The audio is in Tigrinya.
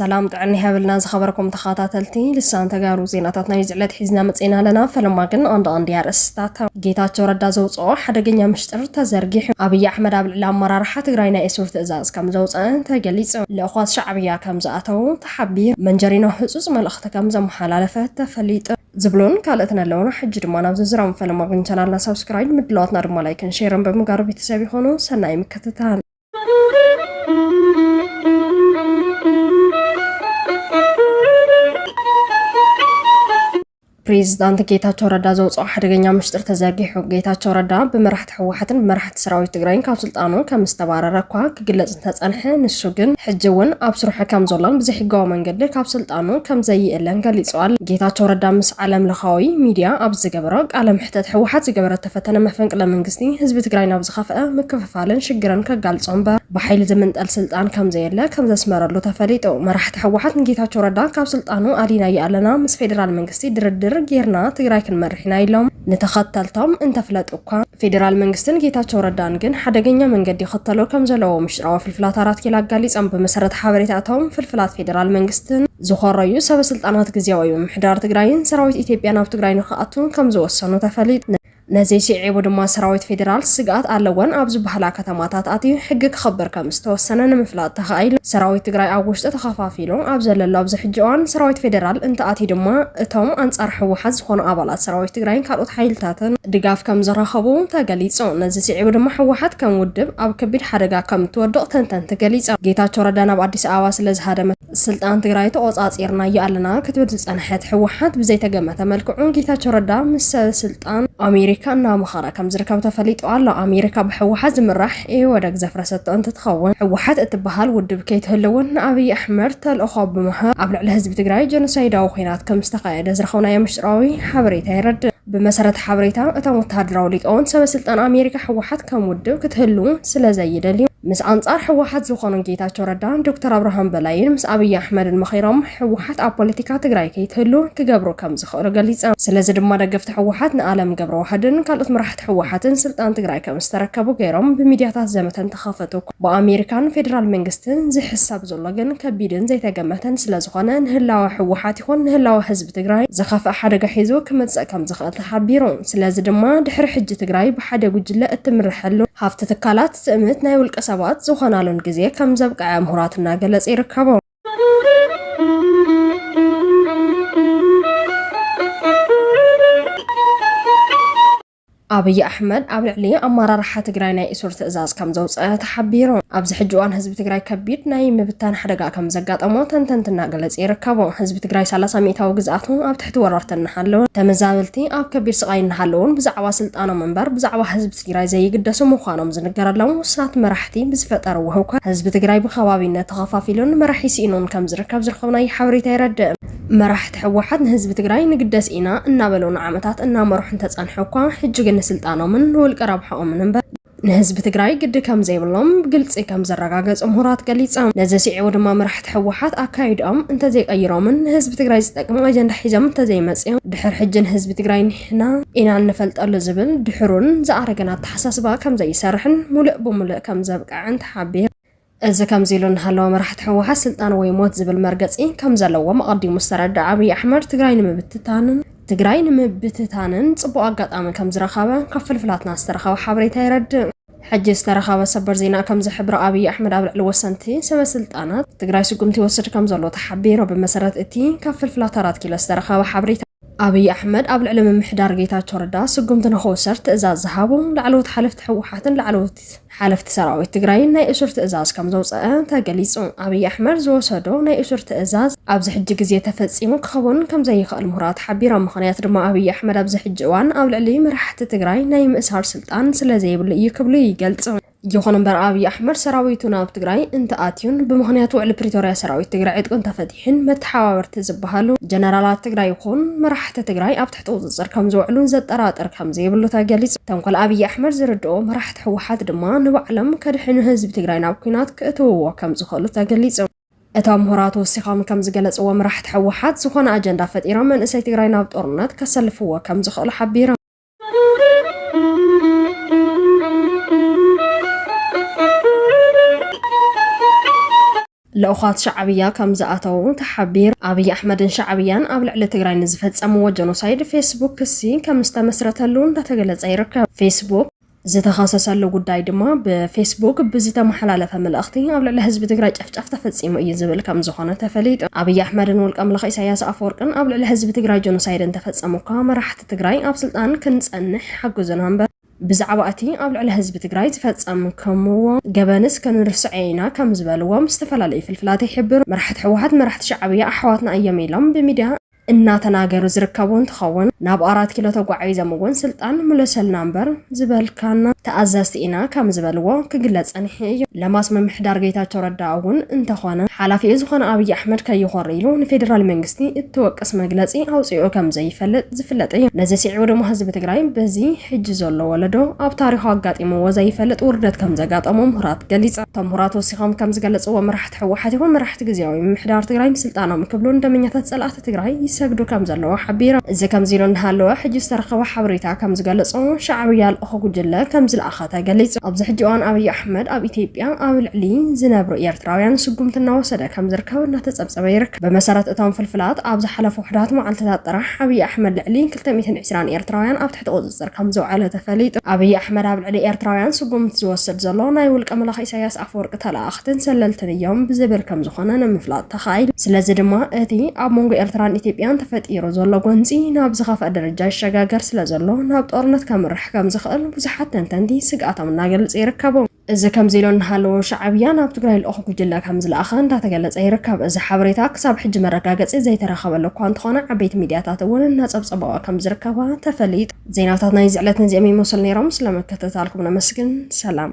ሰላም ጥዕና ይሃበልና ዝኸበረኩም ተኸታተልቲ ልሳን ተጋሩ ዜናታት ናይ ዝዕለት ሒዝና መፅና ኣለና ፈለማ ግን ኣንድ ኣንድ ኣርእስታት ጌታቸው ረዳ ዘውፅኦ ሓደገኛ ምሽጥር ተዘርጊሑ ኣብይ ኣሕመድ ኣብ ልዕሊ ኣመራርሓ ትግራይ ናይ እሱር ትእዛዝ ከም ዘውፅአን ተገሊፁ ልእኳት ሻዕብያ ከም ዝኣተው ሓቢር። መንጀሪኖ ህጹጽ መልእኽቲ ከም ዘመሓላለፈ ተፈሊጡ። ዝብሉን ካልእትን ኣለዉና ሕጂ ድማ ናብ ዝርዝራም ፈለማ ግን ቻናልና ሳብስክራይድ ምድላዋትና ድማ ላይክን ሼርን ብምጋሩ ቤተሰብ ይኹኑ ሰናይ ምክትታል። ፕሬዚዳንት ጌታቸው ረዳ ዘውፅኦ ሓደገኛ ምሽጥር ተዘርጊሑ። ጌታቸው ረዳ ብመራሕቲ ህወሓትን ብመራሕቲ ሰራዊት ትግራይን ካብ ስልጣኑ ከም ዝተባረረ እኳ ክግለፅ እንተፀንሐ ንሱ ግን ሕጂ እውን ኣብ ስርሑ ከም ዘሎን ብዘይሕጋዊ መንገዲ ካብ ስልጣኑ ከም ዘይእለን ገሊፁ ኣሎ። ጌታቸው ረዳ ምስ ዓለም ለኻዊ ሚድያ ኣብ ዝገበሮ ቃለ መሕተት ህወሓት ዝገበረቶ ፈተነ መፈንቅለ መንግስቲ ህዝቢ ትግራይ ናብ ዝኸፍኣ ምክፍፋል ፋልን ሽግርን ከጋልጾ እምበር ብሓይሊ ዝምንጠል ስልጣን ከምዘየለ ከምዘስመረሉ ተፈሊጡ። መራሕቲ ህወሓት ንጌታቸው ረዳ ካብ ስልጣኑ ኣድሂናዮ ኣለና፣ ምስ ፌዴራል መንግስቲ ድርድር ጌርና ትግራይ ክንመርሕ ኢና ኢሎም ንተኸተልቶም እንተፍለጡ እኳ፣ ፌዴራል መንግስትን ጌታቸው ረዳን ግን ሓደገኛ መንገዲ ይኽተሉ ከምዘለዉ ምሽጥራዊ ፍልፍላት ኣራት ኪሎ ኣጋሊጾም። ብመሰረት ሓበሬታ እቶም ፍልፍላት ፌዴራል መንግስትን ዝኾረዩ ሰበ ስልጣናት ግዝያዊ ምምሕዳር ትግራይን ሰራዊት ኢትዮጵያ ናብ ትግራይ ንኽኣቱ ከምዝወሰኑ ተፈሊጡ። ነዚ ስዒቡ ድማ ሰራዊት ፌዴራል ስግኣት ኣለወን ኣብ ዝበሃላ ከተማታት ኣትዩ ሕጊ ክኽብር ከምዝተወሰነ ንምፍላጥ ተኻኢሉ። ሰራዊት ትግራይ ኣብ ውሽጢ ተኸፋፊሉ ኣብ ዘለሉ ኣብዚ ሕጂ እዋን ሰራዊት ፌዴራል እንተኣትዩ ድማ እቶም ኣንፃር ህወሓት ዝኾኑ ኣባላት ሰራዊት ትግራይን ካልኦት ሓይልታትን ድጋፍ ከምዝረኸቡ ተገሊፁ። ነዚ ስዒቡ ድማ ህወሓት ከም ውድብ ኣብ ከቢድ ሓደጋ ከምእትወድቕ ተንተንቲ ገሊፆም። ጌታቸው ረዳ ናብ ኣዲስ ኣበባ ስለዝሃደመ፣ ስልጣን ትግራይ ተቖፃፂርናዮ ኣለና ክትብል ዝፀንሐት ህወሓት ብዘይተገመተ መልክዑ ጌታቸው ረዳ ምስ ሰበ ስልጣን ኣሜሪካ እናመኸረ ከምዝርከብ ተፈሊጡ ኣሎ። ኣሜሪካ ብህወሓት ዝምራሕ ኢህወደግ ዘፍረሰቶ እንትትኸውን ህወሓት እትበሃል ውድብ ከይትህልውን ንኣብይ ኣሕመድ ተልእኾ ብምሃብ ኣብ ልዕሊ ህዝቢ ትግራይ ጀኖሳይዳዊ ኹናት ከምዝተኻየደ ዝረኸብናዮ ምስጢራዊ ሓበሬታ የረድእ። ብመሰረት ሓበሬታ እቶም ወተሃደራዊ ሊቃውንት፣ ሰበስልጣን ኣሜሪካ ህወሓት ከም ውድብ ክትህሉ ስለዘይደልዩ፣ ምስ ኣንጻር ህወሓት ዝኾኑ ጌታቸው ረዳን ዶክተር ኣብርሃም በላይን ምስ ኣብይ ኣሕመድን መኺሮም ህወሓት ኣብ ፖለቲካ ትግራይ ከይትህሉ ክገብሩ ከምዝኽእሉ ገሊጸም። ስለዚ ድማ ደገፍቲ ህወሓት ንኣለም ገብረዋህድን ካልኦት መራሕቲ ህወሓትን ስልጣን ትግራይ ከምዝተረከቡ ገይሮም ብሚድያታት ዘመተ እንተኸፈቱ፣ ብኣሜሪካን ፌደራል መንግስትን ዝሕሰብ ዘሎ ግን ከቢድን ዘይተገመተን ስለዝኾነ ንህላወ ህወሓት ይኹን ንህላወ ህዝቢ ትግራይ ዝኸፍእ ሓደጋ ሒዙ ክመፅእ ከምዝኽእል ተሓቢሩ። ስለዚ ድማ ድሕሪ ሕጂ ትግራይ ብሓደ ጉጅለ እትምረሐሉን ሃፍቲ ትካላት ትእምት ናይ ውልቀ ሰባት ዝኾናሉን ግዜ ከምዘብቀዐ ምሁራት እናገለፁ ይርከቡ። ኣብይ ኣሕመድ ኣብ ልዕሊ ኣመራርሓ ትግራይ ናይ እሱር ትእዛዝ ከምዘውፀ ተሓቢሩ። ኣብዚ ሕጂ እዋን ህዝቢ ትግራይ ከቢድ ናይ ምብታን ሓደጋ ከምዘጋጠሞ ተንተንቲ እናገለፁ ይርከቡ። ህዝቢ ትግራይ ሰላሳ ሚኢታዊ ግዝኣቱ ኣብ ትሕቲ ወረርቲ እናሃለወን ተመዛበልቲ ኣብ ከቢድ ስቓይ እናሃለዉን ብዛዕባ ስልጣኖም እምበር ብዛዕባ ህዝቢ ትግራይ ዘይግደሱ ምዃኖም ዝንገረሎም ውሱናት መራሕቲ ብዝፈጠርዎ ህውከት ህዝቢ ትግራይ ብኸባቢነት ተኸፋፊሉን መራሒ ስኢኑን ከምዝርከብ ዝረኸብናዮ ሓበሬታ የረድእ። መራሕቲ ህወሓት ንህዝቢ ትግራይ ንግደስ ኢና እናበሉ ንዓመታት እናመርሑ እንተፀንሑ እኳ ሕጂ ግን ንስልጣኖምን ንውልቀ ረብሓኦምን እምበር ንህዝቢ ትግራይ ግዲ ከምዘይብሎም ብግልፂ ከምዘረጋገፁ ምሁራት ገሊፆም። ነዚ ስዒቡ ድማ መራሕቲ ህወሓት ኣካይድኦም እንተዘይቀይሮምን ንህዝቢ ትግራይ ዝጠቅም ኣጀንዳ ሒዞም እንተዘይመፅዮም ድሕር ሕጂ ንህዝቢ ትግራይ ንሕና ኢና እንፈልጠሉ ዝብል ድሑርን ዝኣረገን ኣተሓሳስባ ከምዘይሰርሕን ሙልእ ብሙልእ ከምዘብቅዕን ተሓቢሩ። እዚ ከምዚ ኢሉ እናሃለወ መራሕቲ ህወሓት ስልጣን ወይ ሞት ዝብል መርገፂ ከምዘለዎም ኣቐዲሙ ዝተረደኣ ኣብይ ኣሕመድ ትግራይ ንምብትታንን ትግራይ ንምብትታንን ፅቡቕ ኣጋጣሚ ከምዝረኸበ ካብ ፍልፍላትና ዝተረኸበ ሓበሬታ የረድእ። ሕጂ ዝተረኸበ ሰበር ዜና ከምዝሕብሮ ኣብይ ኣሕመድ ኣብ ልዕሊ ወሰንቲ ሰበ ስልጣናት ትግራይ ስጉምቲ ይወስድ ከምዘሎ ተሓቢሩ። ብመሰረት እቲ ካብ ፍልፍላት ኣራት ኪሎ ዝተረኸበ ሓበሬታ፣ ኣብይ ኣሕመድ ኣብ ልዕሊ ምምሕዳር ጌታቸው ረዳ ስጉምቲ ንክውሰድ ትእዛዝ ዝሃቡ ላዕለዎት ሓለፍቲ ህወሓትን ላዕለዎት ሓለፍቲ ሰራዊት ትግራይን ናይ እሱር ትእዛዝ ከምዘውፀኣ ተገሊፁ። ኣብይ ኣሕመድ ዝወሰዶ ናይ እሱር ትእዛዝ ኣብዚ ሕጂ ግዜ ተፈፂሙ ክኸውን ከምዘይኽእል ምሁራት ሓቢሮም። ምኽንያት ድማ ኣብይ ኣሕመድ ኣብዚ ሕጂ እዋን ኣብ ልዕሊ መራሕቲ ትግራይ ናይ ምእሳር ስልጣን ስለዘይብሉ እዩ ክብሉ ይገልፁ። ይኹን እምበር ኣብይ ኣሕመድ ሰራዊቱ ናብ ትግራይ እንተኣትዩን ብምኽንያት ውዕሊ ፕሪቶርያ ሰራዊት ትግራይ ዕጥቁ እንተፈቲሑን መተሓባበርቲ ዝበሃሉ ጀነራላት ትግራይ ይኹን መራሕቲ ትግራይ ኣብ ትሕቲ ቁፅፅር ከምዝውዕሉን ዘጠራጥር ከምዘይብሉ ተገሊፁ። ተንኮል ኣብይ ኣሕመድ ዝርድኦ መራሕቲ ህወሓት ድማ ንባዕሎም ከድሕኑ ህዝቢ ትግራይ ናብ ኲናት ክእትውዎ ከምዝኽእሉ ተገሊፁ። እቶም ምሁራት ወሲኾም ከምዝገለፅዎ መራሕቲ ህወሓት ዝኾነ ኣጀንዳ ፈጢሮም መንእሰይ ትግራይ ናብ ጦርነት ከሰልፍዎ ከምዝኽእሉ ሓቢሮም። ልኡኻት ሻዕብያ ከም ዝኣተዉ ተሓቢሩ። ኣብይ ኣሕመድን ሻዕብያን ኣብ ልዕሊ ትግራይ ንዝፈጸምዎ ጀኖሳይድ ፌስቡክ ክሲ ከም ዝተመስረተሉ እንዳተገለጸ ይርከብ። ፌስቡክ ዝተኸሰሰሉ ጉዳይ ድማ ብፌስቡክ ብዝተመሓላለፈ መልእኽቲ ኣብ ልዕሊ ህዝቢ ትግራይ ጨፍጫፍ ተፈፂሙ እዩ ዝብል ከምዝኾነ ተፈሊጡ። ኣብይ ኣሕመድን ውልቀ ኣምላኽ ኢሳያስ ኣፈወርቅን ኣብ ልዕሊ ህዝቢ ትግራይ ጆኖሳይድ እንተፈፀሙ እኳ መራሕቲ ትግራይ ኣብ ስልጣን ክንፀንሕ ይሓግዙና እምበር ብዛዕባ እቲ ኣብ ልዕሊ ህዝቢ ትግራይ ዝፈፀምክምዎ ገበንስ ክንርስዖ ኢና ከምዝበልዎም ዝተፈላለዩ ፍልፍላት ይሕብሩ። መራሕቲ ህወሓት መራሕቲ ሻዕብያ ኣሕዋትና እዮም ኢሎም ብሚድያ እናተናገሩ ዝርከቡ እንትኸውን ናብ ኣራት ኪሎ ተጓዒዞም እውን ስልጣን ምለሰልና እምበር ዝበልካና ተኣዘዝቲ ኢና ከምዝበልዎ ክግለፅ ፀኒሑ እዩ። ለማስ ምምሕዳር ጌታቸው ረዳ እውን እንተኾነ ሓላፊኡ ዝኾነ ኣብይ ኣሕመድ ከይኾሪ ኢሉ ንፌደራል መንግስቲ እትወቅስ መግለፂ ኣውፂኡ ከምዘይፈልጥ ዝፍለጥ እዩ። ነዚ ስዒቡ ድማ ህዝቢ ትግራይ በዚ ሕጂ ዘሎ ወለዶ ኣብ ታሪኹ ኣጋጢምዎ ዘይፈልጥ ውርደት ከምዘጋጠሞ ምሁራት ገሊፆም። እቶም ምሁራት ወሲኾም ከምዝገለፅዎ መራሕቲ እቲ ህወሓት ይኹን መራሕቲ ግዝያዊ ምምሕዳር ትግራይ ንስልጣኖም ክብሉ ንደመኛታት ፀላእቲ ትግራይ ይሰግዱ ከምዘለዉ ሓቢሮም። እዚ ከምዚ ኢሉ እናሃለወ ሕጂ ዝተረኸበ ሓበሬታ ከምዝገለፆ ሻዕብያ ልኡኽ ጉጅለ ከምዝለኣኸ ተገሊፁ። ኣብዚ ሕጂ እዋን ኣብይ ኣሕመድ ኣብ ኢትዮጵያ ኣብ ልዕሊ ዝነብሩ ኤርትራውያን ስጉምቲ እናወሰደ ከምዝርከብ እናተፀብፀበ ይርከብ። ብመሰረት እቶም ፍልፍላት ኣብ ዝሓለፉ ውሑዳት መዓልቲታት ጥራሕ ኣብይ ኣሕመድ ልዕሊ ክልተ ሚእትን ዕስራን ኤርትራውያን ኣብ ትሕቲ ቁፅፅር ከምዝውዐለ ተፈሊጡ። ኣብይ ኣሕመድ ኣብ ልዕሊ ኤርትራውያን ስጉምቲ ዝወስድ ዘሎ ናይ ውልቀ መላኺ ኢሳያስ ኣፈወርቂ ተለኣኣኽትን ሰለልትን እዮም ብዝብል ከምዝኾነ ንምፍላጥ ተኻኢሉ። ስለዚ ድማ እቲ ኣብ መንጎ ኤርትራን ኢትዮጵያን ተፈጢሩ ዘሎ ጎንፂ ናብ ዝኸፍኣ ደረጃ ይሸጋገር ስለዘሎ ናብ ጦርነት ከምርሕ ከምዝኽእል ብዙሓት ተንተንቲ ስግኣቶም እናገልፁ ይርከቡ። እዚ ከምዚ ኢሎ እናሃለወ ሻዕብያ ናብ ትግራይ ልኡኽ ጉጅለ ከምዝለኣኸ እንዳተገለፀ ይርከብ። እዚ ሓበሬታ ክሳብ ሕጂ መረጋገፂ ዘይተረኸበሉ እኳ እንተኾነ ዓበይቲ ሚድያታት እውን እናፀብፀበኦ ከምዝርከባ ተፈሊጡ። ዜናታት ናይዚ ዕለት ነዚኦም ይመስሉ ነይሮም። ስለምክትታልኩም ነመስግን። ሰላም።